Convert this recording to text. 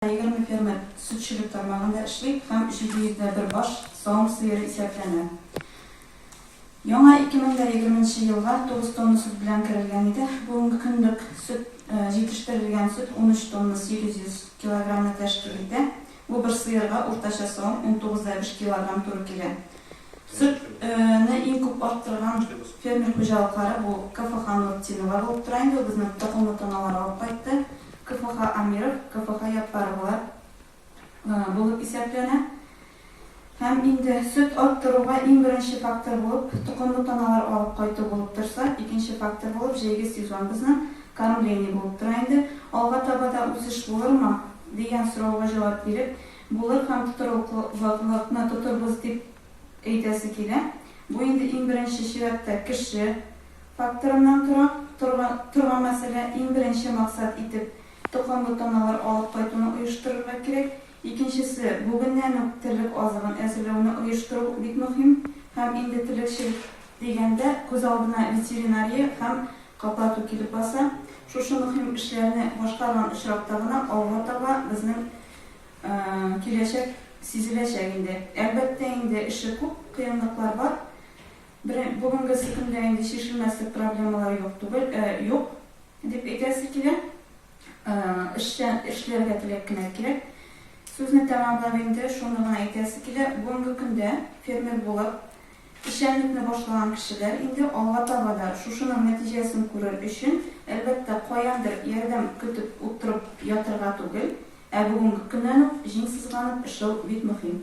Егерме фермер сөтчелек тармагында эшли һәм 701 баш савым сыеры исәпләнә. Яңа 2020 нче елга 9 тонна сөт белән керелгән иде, бүгенге көнлек сөт җитештерелгән сөт 13 тонна 800 килограммны тәшкил итә, бу бер сыерга уртача савым 19 дә биш килограмм туры килә. Сөт не иң күп арттырган фермер хуҗалыклары бу КФХ Нуртдинова булып тора инде, ул безне токымлы таналар алып кайтты, КФХ Амиров, КФХ Яппаровалар булып исәпләнә. Һәм инде сөт арттыруга иң беренче фактор булып токымлы таналар алып кайту булып торса, икенче фактор булып җәйге сезон безнең кормление булып тора инде. Алга таба да үсеш булырмы? Дигән сорауга җавап биреп, Булыр һәм тотрыклылыкны тотырбыз дип әйтәсе килә. Бу инде иң беренче чиратта кеше факторыннан тора торган мәсьәлә. Иң беренче максат итеп токымлы таналар алып кайтуны оештырырга кирәк. Икенчесе, бүгеннән үк терлек азыгын әзерләүне оештыру бик мөһим. Һәм инде терлекчелек дигәндә, күз алдына ветеринария һәм каплату килеп баса. Шушы мөһим эшләрне башкарган очракта гына алга таба безнең Киләчәк сизеләчәк инде. Әлбәттә инде, эше күп, кыенлыклар бар. Бүгенге сөкемдә инде чишелмәслек проблемалар юк түгел, юк, дип әйтәсе килә. Эшләргә теләк кенә кирәк. Сүзне тәмамлап инде шуны гына әйтәсе килә, бүгенге көндә фермер булып, Эшчәнлекне башлаган кешеләр инде алга таба да шушының нәтиҗәсен күрер өчен, әлбәттә, каяндыр ярдәм көтеп утырып ятырга түгел, ә бүгенге көннән үк җиң сызганып эшләү бик мөһим.